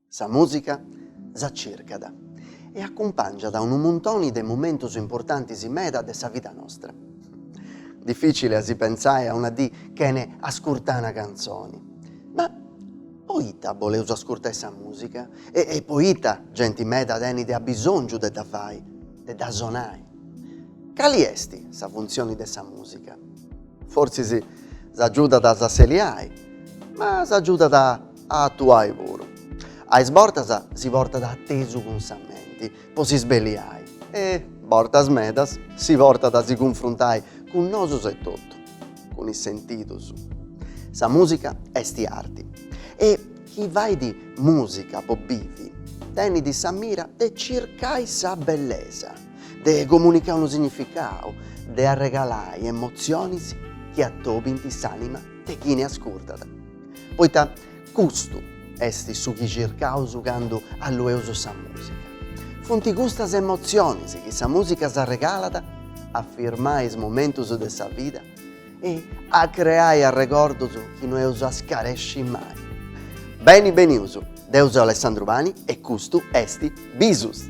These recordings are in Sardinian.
Sa mùsica s'acircat e acumpàngiat a unu muntoni de momentos importantes meda de sa vida nostra. Dificile a si pensai a una dì chene ascurtà una cantzoni, ma Poita boleus ascurtai sa musica? E poita genti meda tenit abisongiu de dda fai, de dda sonai? Cali esti sa funtzioni de sa musica? Fortzis s'agiudat a s'asseliai, ma s'agiudat a atuai puru. A is bortas si portat a tesu cun sa menti, po si sbelliai e, bortas medas, si portat a si cunfruntai cun nosus etotu, cun is sentidus. Sa mùsica est arti e chini fait mùsica po bivi tenit sa mira de circai sa bellesa, de comunicai unu significau, de arregalai emotzionis chi atobint s'ànima de chini ascurtat. Poita Custu est su chi circaus candu allueus sa mùsica. Funt custas emotzionis chi sa mùsica s'arregalat a firmai is momentus de sa vida e a creai arregordus chi no eus a scaresci mai. Beni benius, deu seu Alessandru Pani e custu est Bisus!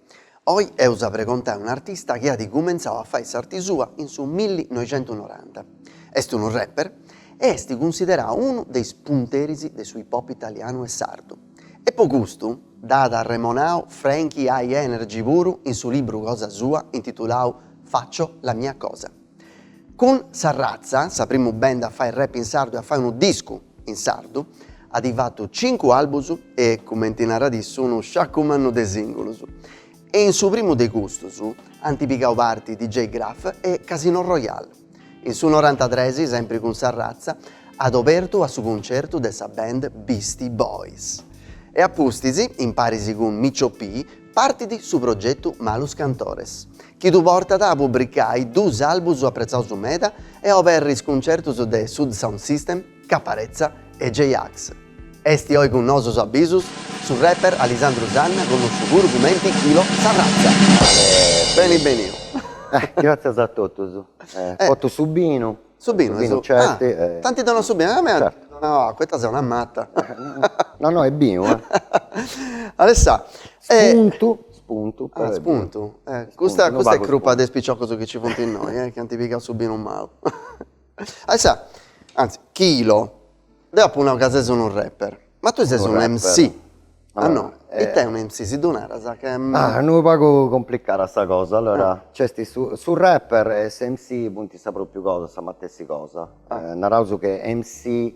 Oi eus a pregontai a un'artista chi at cumentzau a fai s'arti sua in su millinoixentunoranta. Est unu rapper e est cunsiderau unu de is punteris de su hip hop italianu e sardu. E po custu dd'at arremonau Frankie Hi-NRG puru in su libru cosa sua intitulau Faccio la mia cosa. Cun Sa Razza, sa primu band a fai rap in sardu e a fai unu discu in sardu, at fatu cincu albus e, cumenti narat issu, unu sciaccu mannu de singulus. E in su primu de custus ant pigau parti DJ Gruff e Casino Royale. In su norantatres, sempri cun Sa Razza, at obertu a su concertu de sa band Beastie Boys. E a pustis, imparis cun Micho P, Partit su progetu Malos Cantores, chi ddu portat a pubricai duus albus apretzaus meda e a oberri is cuncertus de Sud Sound System, Caparezza e J-Ax. Est oi cun nosus a bisus su rapper Alessandru Sanna connosciu puru cumenti Quilo Sa Razza. Beni beniu. Gratzias a totus. Portu su binu. Su binu e su binu Certi e T'anti donau su binu, a mei m'ant donau acua, ita seu una mata. No no est binu eh. Alessà Spuntu spuntu però est binu. Spuntu eh custa custa est crupa de is piciocus chi ci funt innoi eh chi ant pigau su binu mau. Alessà, anzi Quilo, Deu apu nau ca ses unu rapper. Ma tui ses unu MC. Ah no, it'est unu MC, si ddu naras? Ca est unu pagu complicada sa cosa, allora c'esti su su rapper e su MC funti sa propriu cosa, sa matessi cosa. Naraus chi MC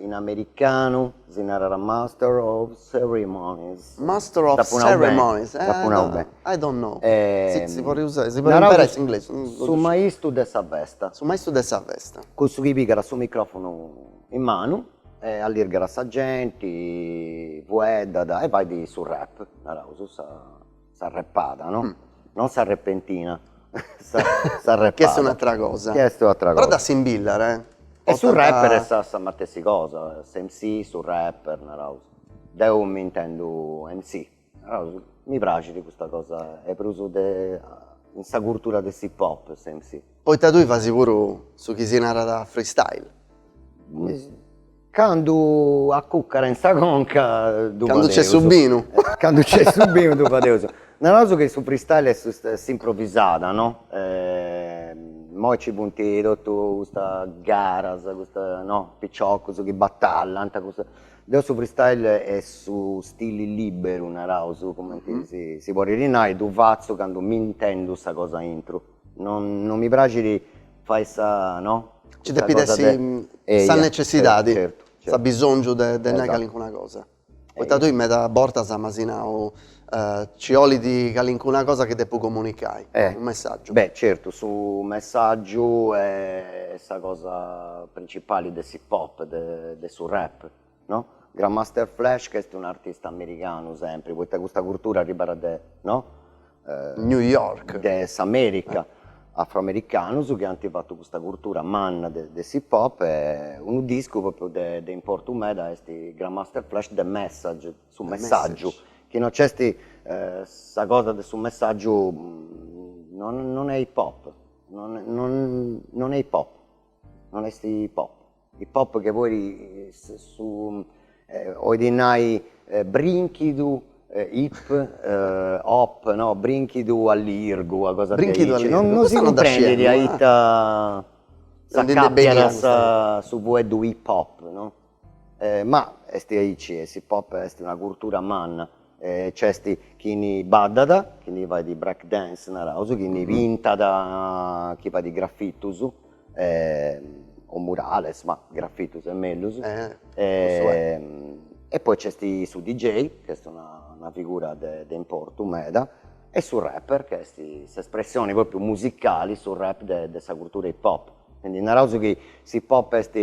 in americanu si narat master of ceremonies. Master of ceremonies, eh. Dd'apu nau beni. I don't know. Si podit usai, si podit imperai s'inglesu. Naraus su maistu de sa festa. Su maistu de sa festa. Cussu chi pigat su microfonu in manu e allirgat a sa genti, fueddat e fait su rap, naraus, sa repada, no? Non sa repentina, sa repada. Chi est un'atera cosa. Chi est un'atera cosa. Però dd'assimbillat, eh. E su rapper est sa matessi cosa, s'MC, su rapper, naraus. Deu m'intendu MC. Naus, mi praxit custa cosa e prus de in sa cultura de s'hip hop s'MC. Poita tui fasi puru su chi si narat freestyle. Candu a cuccara in sa conca ddu fadeus. Candu nc'est su binu. Candu nc'est su binu ddu fadeus. Naraus chi su freestyle est s'improvisada no, moi nci funti totu custas garas, custas no, piciocus chi batallant, Deu su freestyle est su stili liberu naraus cumenti si podit nai, ddu fatzu candu m'intendu sa cosa aintru, non mi praxit fai sa no, Nci depit essi sa necessidadi, su bisongiu de nai calincuna cosa, poita tui meda bortas m'asi nau, Ci 'olit calincuna cosa chi depu comunicai, unu messàgiu. Beh, certu, su messàgiu est sa cosa principali de s'hip hop, de su rap, no? Grandmaster Flash ch'est un'artista americanu sempri, poita custa curtura arribbat de, no? New York. De s'America, afroamericanus chi ant fatu custa curtura manna de s'hip hop e unu discu propriu de importu meda est Grandmaster Flash The Message, su messaggiu chi non c'est sa cosa de su messaggiu non est hip hop non est hip hop non est hip hop hip hop che poi 'olit nai brinchidu hip hop no brinchidu allirgu una cosa brinchidu allirgu non si cumprendit a ita s'accapiat su fueddu hip hop no Ma est aici e s'hip hop est una curtura manna nc'est chi ni baddat, chi ni fait break dance naraus, chi ni pintat, chi fait grafitus o murales, ma grafitus est mellus e poi nc'est su DJ chi est una figura de importu meda e su rapper chi est s'espressioni propriu musicali, su rap de sa curtura hip hop. Quindi naraus chi s'hip hop est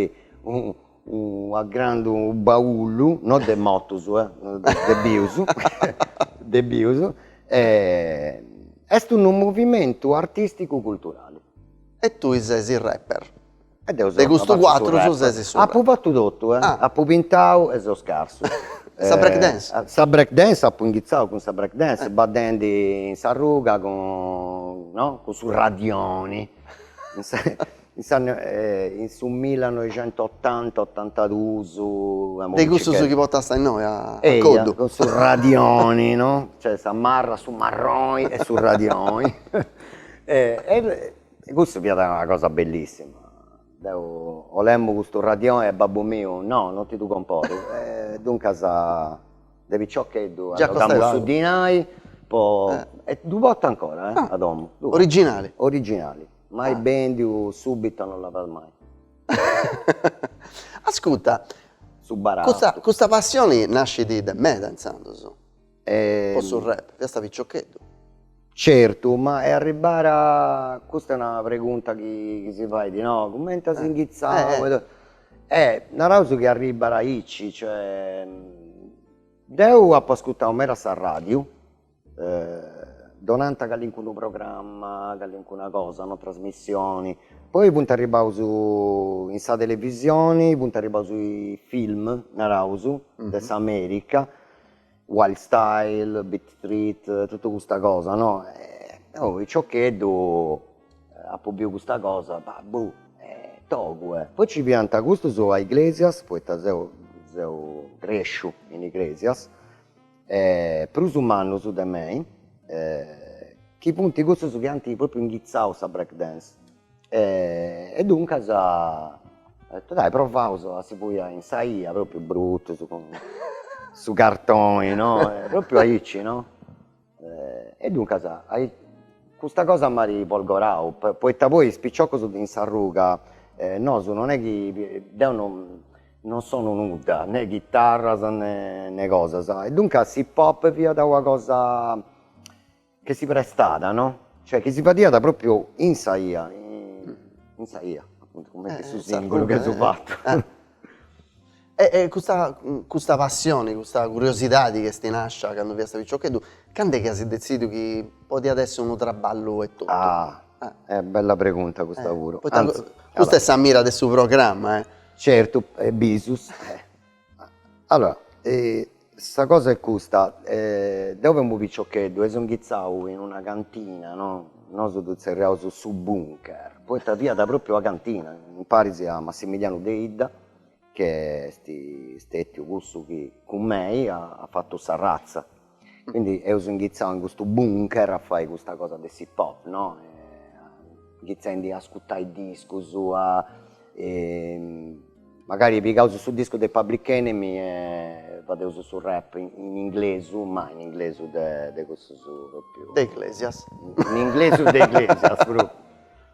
una grandu baullu, no de motus eh, de bius, de bius, est unu movimentu artisticu culturali. E tui ses su rapper. E deu seu una parti su rapper. De custus cuatrus ses su rapper. Apu fatu totu eh, apu pintau e seu scarsu. E sa break dance? Sa break dance apu inghitzau cun sa break dance baddendi in s'arruga cun, no, cun su radioni. in su millanoixentotanta otantaduus de cussus chi potasta innoi a coddu, cun su radioni no, cioè sa marra su marroni e su radioni e cussu fiat una cosa bellissima, deu 'olemu custu radioni e babbu miu no non ti ddu comporu e duncas De piccioccheddu arroghamus su dinai poi e ddu portu ancora eh a domu. Originali. Originali, mai bendiu, subitu non l'apat mai. Ascuta, custa custa passioni nascit de meda intzandus po su rap, fiasta piccioccheddu. Certu, ma est arribada, custa est una pregunta chi chi si fait no, cumenti as inghitzau E naraus chi arribbat aici, cioè deu apo ascurtau meda s'arradiu, donant calincunu programma, calincuna cosa, no trasmissioni, poi funt arribbaus in sa televisioni, funt arribbaus is film naraus de s'America Wild Style, Beat Street, totu custa cosa no, de piccioccheddu apo biu custa cosa, bah togu e. Poi nci fiant custus a Iglesias, poita seu seu cresciu in Iglesias e prus mannus de mei chi funt cussus chi ant propriu inghitzau sa break dance E duncas dai provaus a si poi in sa 'ia, propriu brutus cun su cartoni no, propriu aici no, e duncas custa cosa m'at folgorau, poita poi is piciocus in s'arruga nosu non est chi, deu non non sonu nudda, nè chitarras nè cosas, e duncas s'hip hop fiat una cosa Chi si prestada no, cioè chi si fadiat propriu in sa 'ia, in sa 'ia, appuntu cumenti su singulu chi asi fattu. E custa custa passioni, custa curiosidadi ch'esti nascia candu fiasta piccioccheddu, cand'e chi asi dezidiu chi podiat essi unu trabballu e tottu? Ah, eh bella pregunta custa puru. Poita custa est sa mira de su programma eh. Certu, e bisus. Allora sa cosa est custa, deu femu piciocheddu e seu inghitzau in una cantina no, nosu ddu tzerriaus su bunker, poita fiat propriu una cantina, imparis a Massimilianu Deidda chi est stetiu cussu chi cun mei at fatu Sa Razza Quindi eus inghitzau in custu bunker a fai custa cosa de s'hip-hop, no? Inghitzendi a ascutai discus, e magari pigaus su discu de Public Enemy e fadeus su rap in inglesu, ma in inglesu de cussus propriu. De Iglesias. In inglesu de Iglesias propriu.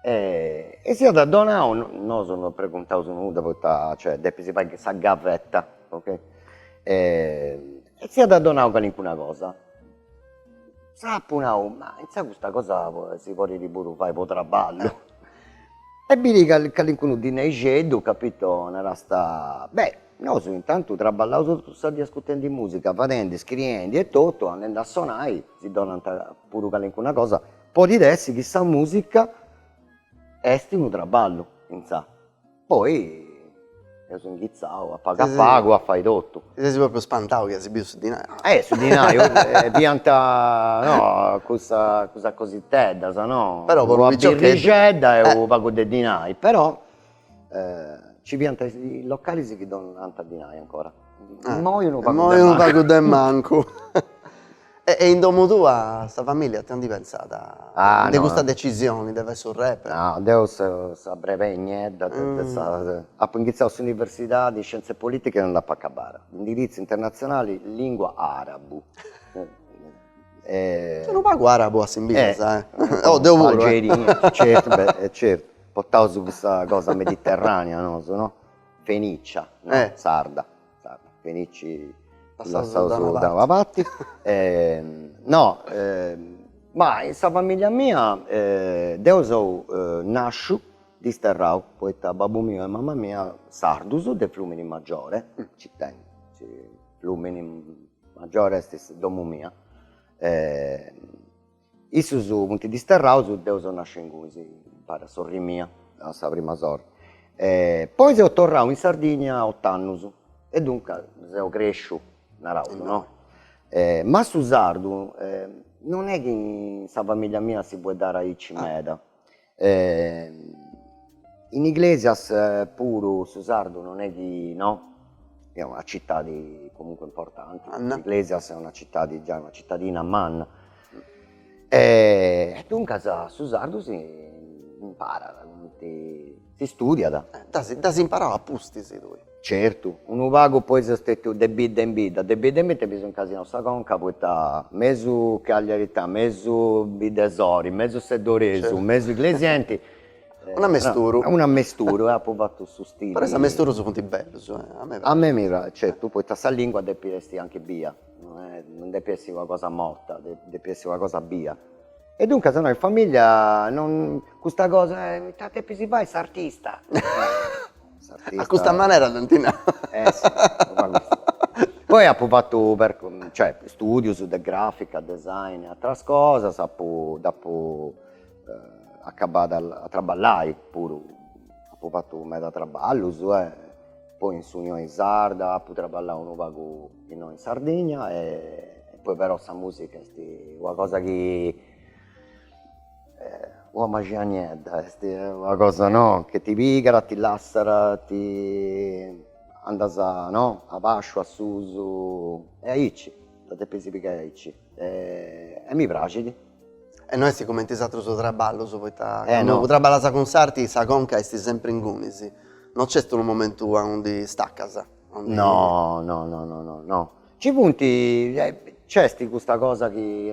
E si at donau, nosu non preguntaus nudda poita cioè depis fai sa gavetta ok, e si at donau calincuna cosa, s'apu nau, ma intzà custa cosa si podit puru fai po traballu e biri calincunu dinaixeddu capito, narasta, beh nosu intantu traballaus totu sa dì ascurtendi musica, fadendi, scriendi e totu andendi a sonai si donant puru calincuna cosa Podit essi chi sa musica est unu traballu intzà, poi eus inghitzau a pagu a pagu a fai totu. Ti ses propriu spantau chi as biu su dinai? Eh su dinai fiant no cussas cussas cositeddas no, una birrixedda e unu pagu de dinai però Ci fiant is localis chi donant dinai ancora. Immoi unu pagu de mancu. Immoi unu pagu de mancu. E in domu tua sa familia ita ndi pentzat de custa decisioni de fai su rap? No, deu sa brebei niedda de sa, apu inghitzau s'universidadi, scienze politiche e non dd'apu acabada, indirizzu internatzionali lingua arabu. Unu pagu arabu assimbillas, oh deu puru. Algeria, certu, beh, certu Portaus custa cosa mediterranea nosu no, fenicia no, sarda, sarda, fenici ddu lassaus da una parti e no ma in sa familia mia deu seu nasciu disterrau poita babbu miu e mama mia sardus de Fluminimaggiore ci tengu Fluminimaggiore est domu mia Issus funt disterraus deu seu nasciu ingunis impari a sorri mia a sa prima sorri e poi seu torrau in Sardigna a ott'annus e duncas seu cresciu naraus no ma su sardu non est chi in sa familia mia si fueddat aici meda in Iglesias puru su sardu non est chi no, est una citadi comunque importanti, Iglesias est una citadi giai una citadina manna e duncas su sardu si imparat comenti si studiat. Dd'as imparau a pustis tui Certu, unu pagu po esso est stetiu de bidda in bidda, de bidda in bidda mi seu incasinau sa conca poita mesu cagliarità, mesu biddesori, mesu seddoresu, mesu iglesienti, Unu ammesturu. Unu ammesturu e apu fatu su stili. Però is ammesturus funt bellus, a mei praxit. A mei mi praxit, certu, poita sa lingua depit essi anche bia, no est, non depit essi una cosa morta, depit essi una cosa bia. E duncas no in familia non custa cosa, ita depis fai s'artista A custa manera s'enti nau. Eh si, poi apu fatu cioè studius de grafica, design e ateras cosas, apu dd'apu acabada a traballai puru, apu fatu meda traballus e poi in s'Unioni Sarda apu traballau unu pagu innoi in Sardigna e poi però sa musica est una cosa chi Una maxia niedda est una cosa no che ti pigat ti lassat ti andas no a basciu a susu e aici dda depis pigai aici e mi praxit. E no est cumenti is atrus traballus poita candu traballas cun s'arti sa conca esti sempri ingunis, no nc'est unu momentu aundi staccas. No no no no no Ci funt, nc'est custa cosa chi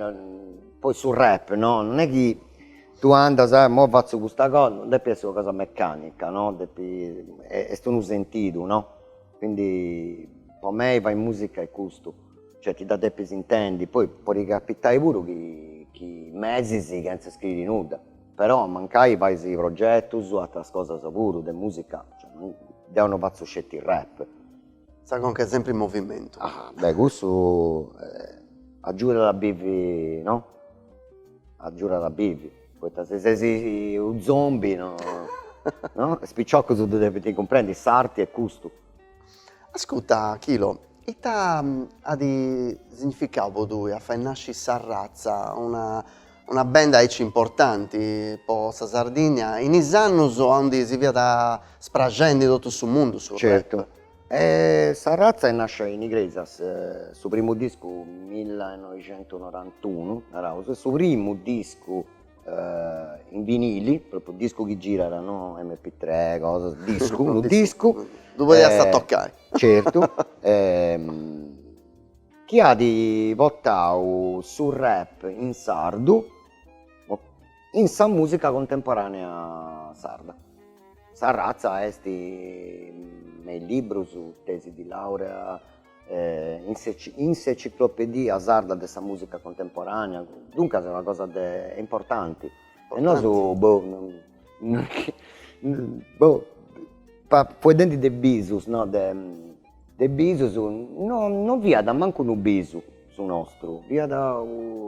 poi su rap no, non est chi tui andas e imoi fatzo custa cosa, non depit essi una cosa mecanica no, depit est unu sentidu no, quindi po mei fai musica est custu, cioè ti dda depis intendi, poi podit capitai puru chi mesis chentza scriri nudda, però mancai fais progetus ateras cosas puru de musica, deo non fatzo sceti rap Sa conca est sempri in movimentu. Ah beh cussu agiudat a bivi no, agiudat a bivi, poita si ses u zombi no no, is piciocus ddu depint cumprendi, s'arti est custu. Ascurta Chilo, ita at significau po tui a fai nasci Sa Razza, una Una band aici importanti po sa Sardinnia in is annus aundi si fiat spraxendi in totu su mundu su rap. Sa Razza est nascia in Igresias, su primu discu millinoixentusnorantunu naraus, su primu discu in vinili, propriu discu chi girat no MP tre cosa, discu, unu discu, ddu podiast tocai, certu chi at portau su rap in sardu in sa musica contemporanea sarda. Sa ratza est me is librus, tesi di laurea in s'enciclopedia sarda de sa musica contemporanea, duncas est una cosa de importanti e nosu boh boh fueddendi de bisus no de De bisus no no fiat mancu unu bisu su nostru, fiat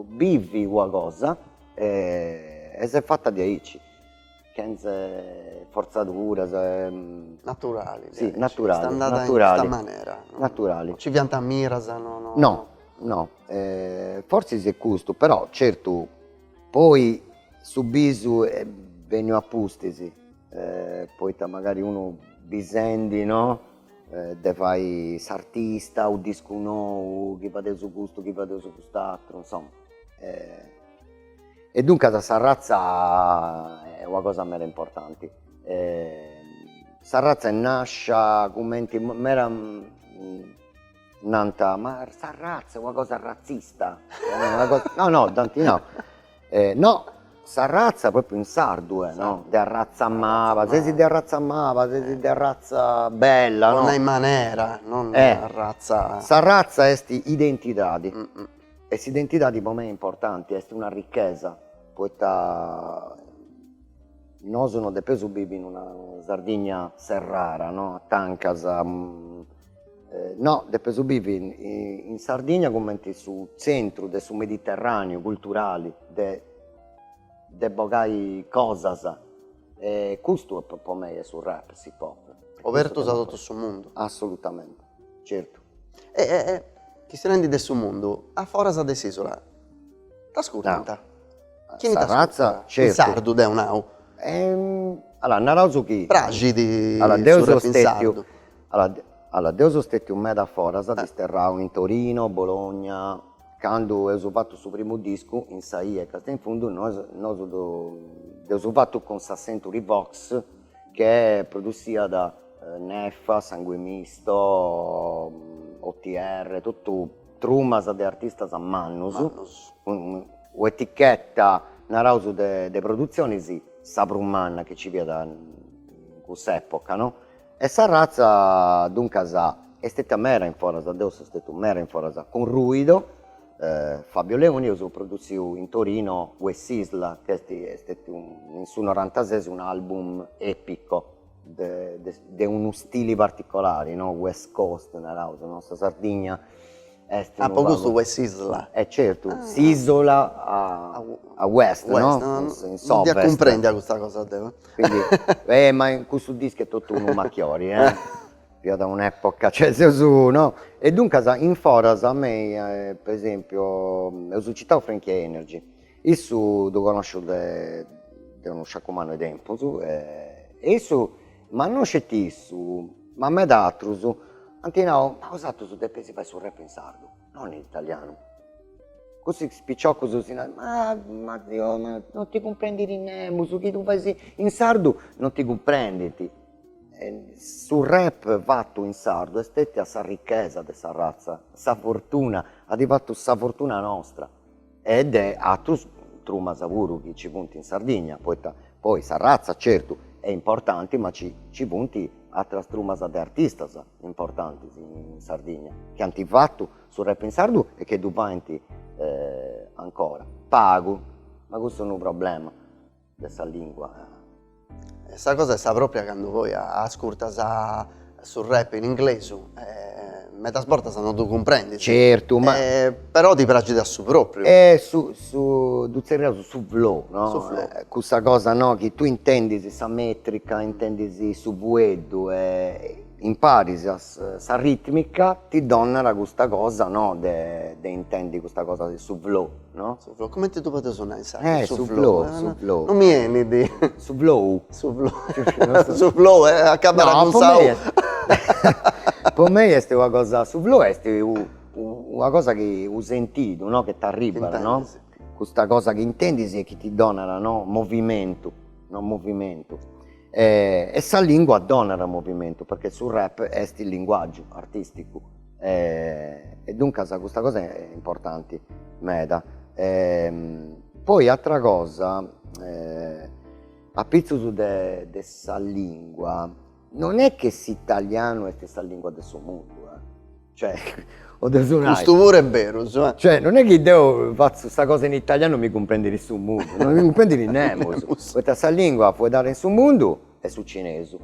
bivi una cosa e e s'est fatta diaici, chentza forzaduras naturali sì naturali est andada in custa manera, naturali, non ci fiant miras no no, no no forsis est custu, però certu poi su bisu est benniu a pustis poita magari unu bisendi no de fai s'artista, su discu nou, chi fadeus custu, chi fadeus cust'atru, insoma. E duncas sa ratza est una cosa mera importanti, sa ratza est nascia cumenti mera Nant, ma sa ratza una cosa ratzista, no no dd'ant nau, no sa ratza propriu in sardu est no, de arratza maba, sesi de arratza maba, sesi de arratza bella no, po nai manera, non arratza, sa ratza est identidadi e s'identidadi po mei est importanti, est una ricchesa, poita nosu non depeus bivi in una Sardigna serrara no, a tancas No, depeus bivi in Sardigna cumenti su tzentru de su mediterràneu culturali, de de bogai cosas e custu est po mei est su rap, s'hip hop. Obertus a totu su mundu. Assolutamente, certu. E chistionendi de su mundu, a foras de s'ìsula t'ascurtant? Chini t'ascurtant? In sardu deu nau. Allora, naraus chi. Praxit su rap in sardu. Allora deu seu stetiu meda foras disterrau in Torino, Bologna, candu eus fatu su primu discu In sa ia Castia in fundu nosu dd'eus fatu cun sa Century Vox chi produssiat Neffa, Sangue Misto, OTR, totu trumas de artistas mannus, mannus, cun un'etichetta naraus de produtzionis sa prus manna chi nci fiat in cuss'epoca no E sa ratza duncas est stetia mera in foras, deu seu stetiu mera in foras cun Ruido, Fabio Leoni, eus produtziu in Torino Wessisla, chi est stetiu in su norantases un'album epico de de unu stili particolari no, West Coast naraus no, sa Sardigna est unu pagu. Ah po custu West Isla. E certu, s'isula a uest no? Uest no? In s'ovest. Non dda cumprendia custa cosa deu. Quindi e ma in custu discu est totu unu machiori fiat un'epoca cioè seus no. E duncas in foras a mei po esempio eus citau Frankie Hi-NRG Issu ddu connosciu de de unu sciacumanu 'e tempus e issu, ma non sceti issu, ma meda atrus ant nau, ma bosatrus depeis fai su rap in sardu, non in italianu, cussus piciocus si, ma Dio ma non ti cumprendit nemus, su chi tui fais in sardu non ti cumprendint, e su rap fatu in sardu est stetia sa ricchesa de sa razza, sa fortuna, at fatu sa fortuna nostra e de atrus trumas puru chi ci funt in Sardigna, poita poi sa ratza certu est importanti ma ci funt atras trumas de artistas importantis in Sardigna chi ant fatu su rap in sardu e chi ddu faint ancora, pagu, ma cussu est unu problema de sa lingua. Sa cosa est sa propria candu poi ascurtas su rap in inglesu medas bortas no ddu cumprendis. Certu ma. Però ti praxit su propriu. ddu zerriaus su flow no? Su flow. Cussa cosa no chi tui intendis sa metrica, intendis su fueddu e imparis sa ritmica ti donat custa cosa no de intendi custa cosa de su flow. Comenti ddu podeus nai in sardu? Su flou. Su flou. Non mi 'enit. Su flou. Su flou. Su flou acabat cun sa u. Po mei est una cosa, su flou est una cosa chi, unu sentidu no, chi t'arribat no, custa cosa chi intendis e chi ti donat no, movimentu no, movimentu e sa lingua donat movimentu perché su rap est linguaggiu artisticu E, e duncas custa cosa est importanti meda. poi atra cosa apitzus de de sa lingua, non est chi s'italianu est sa lingua de su mundu e, cioè podeus nai, custu puru est beru, cioè non est chi deu fatzu sa cosa in italianu mi cumprendit su mundu, non mi cumprendit nemus, poita sa lingua fueddada in su mundu Est su cinesu.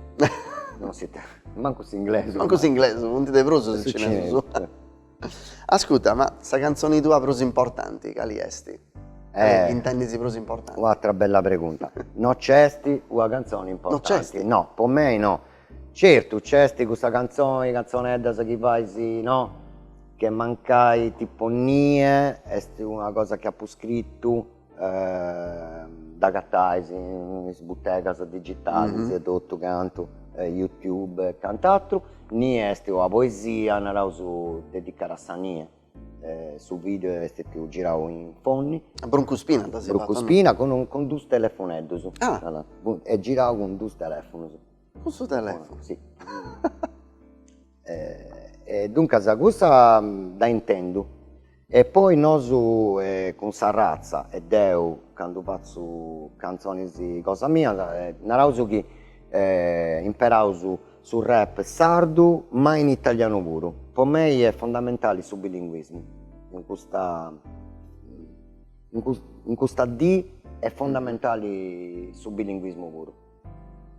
non si te... mancu s'inglesu. Mancu s'inglesu, funt de prus is cinesus. Ascurta, ma sa cantzoni tua prus importanti cali est? Eh. Chi intendis prus importanti? Un'atra bella pregunta. No c'est una cantzoni importanti. No c'est? No, po mei no. Certu, c'est cussa cantzoni, cantzoneddas chi fais, no? Chi mancai tipo Nie, est una cosa chi apu scritu. dd'agatais in is butegas digitalis e totu cantu, youtube e cant'aturu, ni est una poesia naraus dedicada a sa nie, su video est pius girau in fonni, a bruncuspina a bruncuspina cun dus telefoneddus, est girau cun dus telefonus, cun su telefonu, sì e duncas cussa dda intendu e poi nosu cun sa ratza e deu candu fatzo cantzonis cosa mia naraus chi imperaus su rap sardu ma in italianu puru, po mei est fondamentale su bilinguismu in custa in custa dì est fondamentale su bilinguismu puru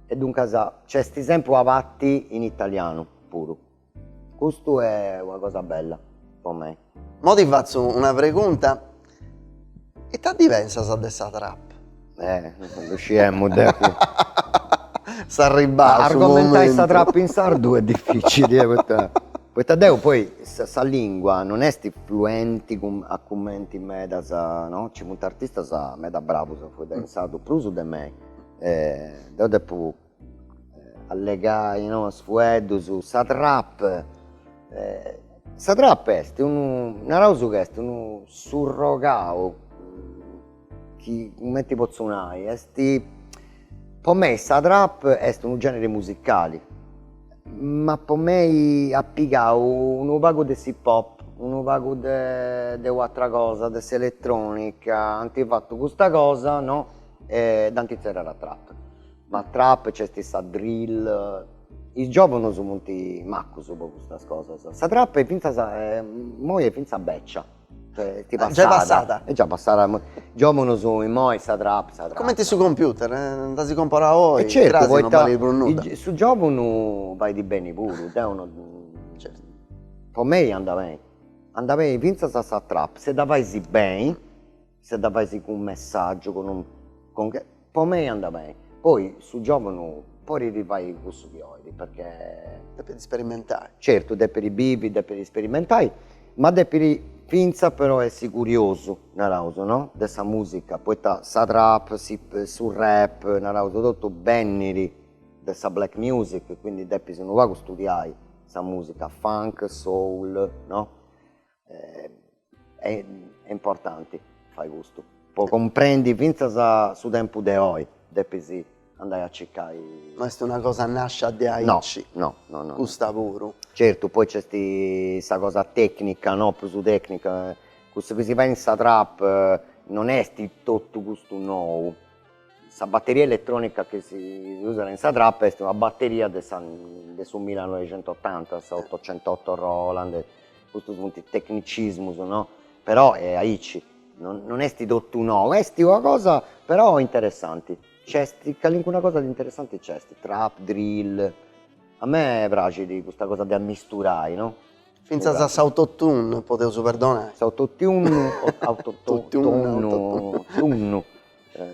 E duncas c'est sempri sa parti in italianu puru. Custu est una cosa bella po mei. Mo ti fatzu una pregunta, ita ndi pensas de sa trap? Eh ddu sciemu deu. Est arribau su momentu. Argomentai sa trap in sardu est dificili e poita poita deu poi sa lingua non est fluenti a cumenti medas no, nci funt artistas meda bravus a fueddai in sardu prus de mei deu depu allegai in duus fueddus sa trap, sa trap est unu, naraus ca est unu surrogau chi cumenti potzu nai est, po mei sa trap est unu generi musicali, ma po mei at pigau unu pagu de s'hip-hop, unu pagu de de u'atra cosa, de s'elettronica, ant fatu custa cosa no E dd'anti tzerriada trap. Ma trap c'esti sa drill. Is giovunus funti macus po custas cosas. Sa trap est finzas immoi est finzas beccia. Giai est passada. Giai passada. Est già passada immoi. Is giovunus immoi sa trap sa trap. Comenti su computer, ddu comporas oi, cras non balit prus nudda. E certu poita su giovunu fait beni puru, deu no. Certu. Po mei andat beni. Andat beni finzas sa trap, si dda fais beni. Si dda fais cun messaggiu cun un cun, po mei anda beni poi su giovunu podit fai cussu chi olit perchè. Depit sperimentai. Certu depit bivi depit sperimentai ma depit finzas però essi curiosu naraus no de sa musica poita sa trap su rap naraus totu bennit de sa black music quindi depis unu pagu studiai sa musica funk soul no e importanti fai custu po cumprendi fintzas su tempus de oi depis andai a circai, no est una cosa nascia de aici no no no custa puru, certu poi nc'est sa cosa tecnica no prus tecnica cussu chi si fait in sa trap non est totu custu nou Sa batteria elettronica chi si usat in sa trap est una batteria de sa de su millanoixent'otanta, sa otocentotto Roland, custos funt tecnicismos no, però est aici, non non est totu nou, est una cosa interessanti, nc'est calincuna cosa de interessanti nc'est, trap, drill, a mei praxit custa cosa de ammisturai no. Fintzas a s'autotune podeus perdonai. S'autotune o autotune, tunnu, tunnu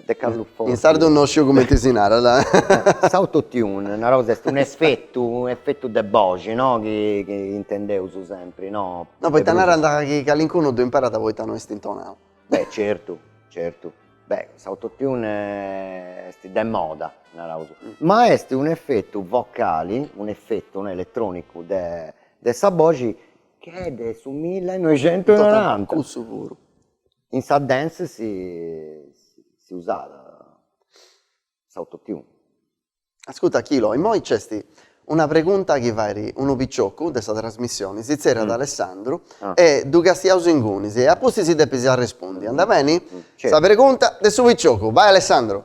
De Carlu Forti. In sardu no sciu cumenti si narat. S'autotune, naraus, est un'efetu, un'efetu de boxi, no, chi intendeus sempri, no. No, poita narant chi calincunu ddu imparat poita no est intonau. Beh, certu, certu. Beh, s'autotune est de moda, naraus, ma est un'efetu vocali, un'efetu, no, eletronicu de de sa boxi chi est de su millanoixent'e noranta. Cussu puru. In sa dance si usàt s'autotune. Ascurta Chilo, immoi nc'est una pregunta chi fait unu piciocu de sa trasmissioni, si tzerriat Alessandru e ddu castiaus ingunis e apustis si depis arrespundi, andat beni? Sa pregunta de su piciocu, bai Alessandru!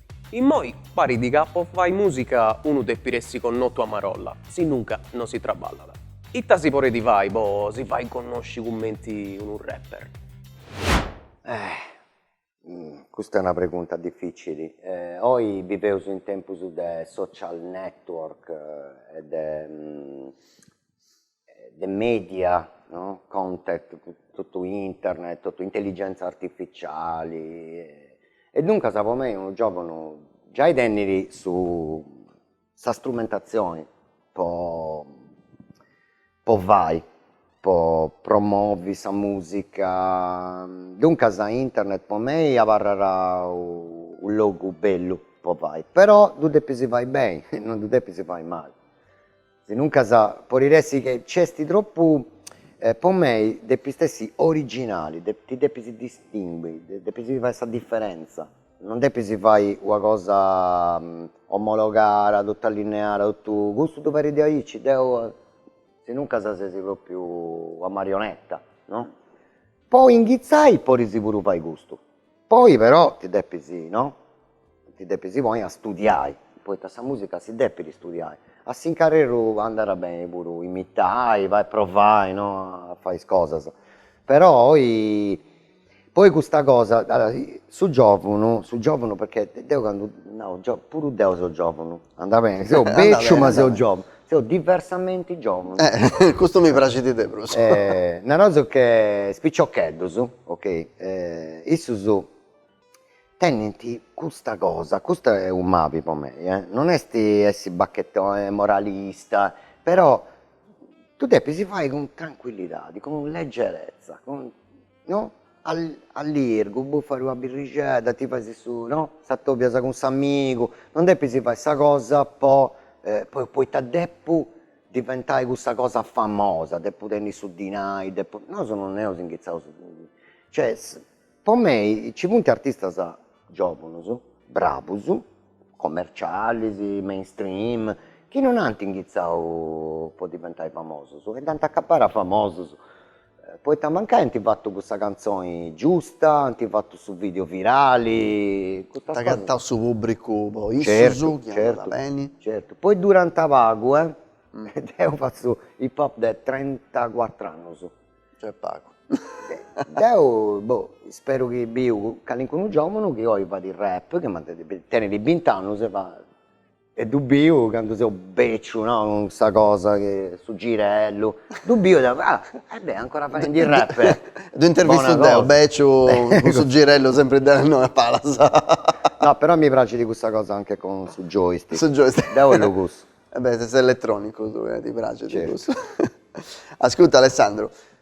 Immoi parit ca po fai musica unu depit essi connotu a marolla, sinnunca no si traballat. Ita si porit fai po si fai connosci cumenti unu rapper? Eh! Custa è una pregunta dificili. Oi biveus in tempus de social network e de de media no content totu internet totu intelligenza artificiali e duncas po mei unu giòvunu giai tenit su sa strumentazioni po po fai po promovi sa musica duncas internet po mei abarrat u logu bellu po fai però ddu depis fai beni non ddu depis fai mali Sinuncas podit essi chi nc'est tropu, po mei depis essi originali, ti depis distingui, depis fai sa diferentza, non depis fai una cosa omologada, totu allineada, totu, custu ddu fait de aici, deu, sinuncas ses propriu una marionetta no, po inghitzai podis puru fai custu, Poi però ti depis no ti depis poi a studiai, poita sa musica si depit studiai, a s'incarreru andat beni puru imitai, fai provai no a fai is cosas, però e poi custa cosa, su giovunu su giovunu perchè deu candu nau puru deu seu giovunu Andat bene, seu bèciu ma seu giòvunu, seu diversamenti giòvunu. Eh, custu mi praxit de prus. Naraus che is piciocheddus, ok, issus tenint custa cosa, custu est unu mabi po mei, eh, non est essi bachetoni, moralista, però ddu depis fai cun trancuillidadi, cun legerezza, cun No, allirgu, bufas una birrixedda, ti fais su, no, t'atobias cun s'amigu, non depis fai sa cosa po poita depu diventai cussa cosa famosa, depu tenni su dinai, depu, nosu non eus inghizaus, cioè po mei ci funt artistas giovunus, bravus, commercialis, main stream, chi non ant inghizau po diventai famosus e dd'ant acabbada famosus Poita mancai ant fatu cussa cantzoni giusta, ant fatu su video virali, custa cosa. Dd'agatant su pubbricu po issus chi andat beni. Certu, poi durant pagu e deu fatzu hip hop de trentacuatru annus. Nc'est pagu. Deu, boh, isperu chi biu calincunu giovunu chi oi fait rap, chi mantenit, tenit bint'annus e fait E ddu biu candu seu beciu no, cun custa cosa cun su girellu, ddu biu e deu, ah e bè ancora faendi rap. Ddu intervistu deu beciu cun su girellu sempri de innoi a palas. No però mi praxit custa cosa anche con su joystick. Su joystick. Deu ellu cussu. E bè ses elettronicu tui e ti praxit cussu. Ascurta Alessandru,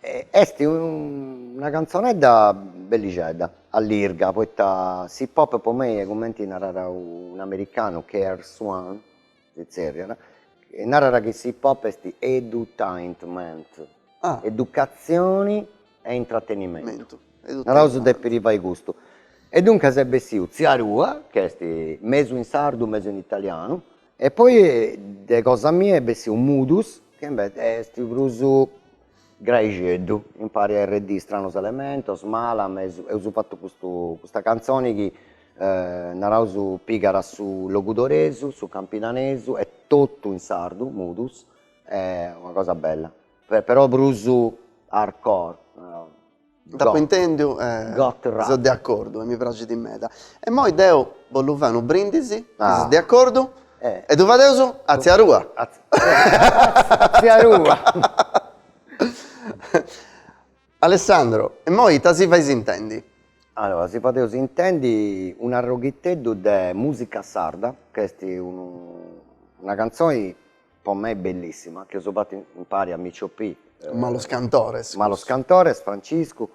Est una cantzonedda bellixedda, allirga, poita s'hip-hop po mei, cumenti narat un'americanu, KRS-One, si tzerriat, narat chi s'hip-hop est edutainment, educatzioni e intratenimentu, naraus depit fai custu, e duncas est bessiu Tzia Arrua, chi est mesu in sardu, mesu in italianu E poi de cosa mia est bessiu Mudus chi invece est prus graixeddu impari a RD Stranos Elementos, Malam, eus fatu custu custa cantzoni chi naraus pigat su logudoresu, su campidanesu e totu in sardu, Mudus, est una cosa bella però prus hardcore Dd'apo intèndiu e seu de acordu e mi praxit meda. E imoi deu bollu fai unu brindisi, chi ses de acordu, e ddu fadeus a tzia Rua. A tzia Rua. Alessandro, e imoi ita si fais intendi? Allora, si fadeus intendi un'arroghitteddu de musica sarda, ch'est una cantzoni po mei bellissima chi eus fatu impari a Micio P. Malos cantores. Malos cantores, Franciscu,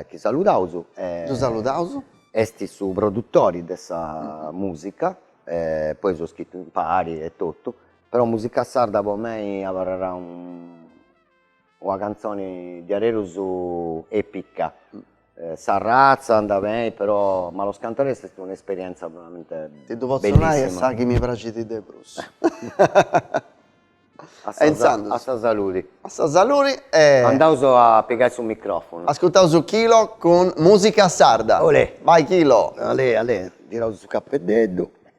chi saludaus. Ddu saludaus. Est su produtori de sa musica, poi eus scrittu impari e totu, però musica sarda po mei abarrerà Una cantzoni diaderusu epica. Sa ratza andat beni però Malos cantores est una esperienza veramente bellissima. Ti ddu potzo nai est sa chi mi praxit de prus. E intzandus. A sa saludi. A sa saludi e. Andaus a pigai su microfonu. Ascurtaus Quilo cun musica sarda. Olè. Vai Quilo. Alè alè tiraus su capeddeddu.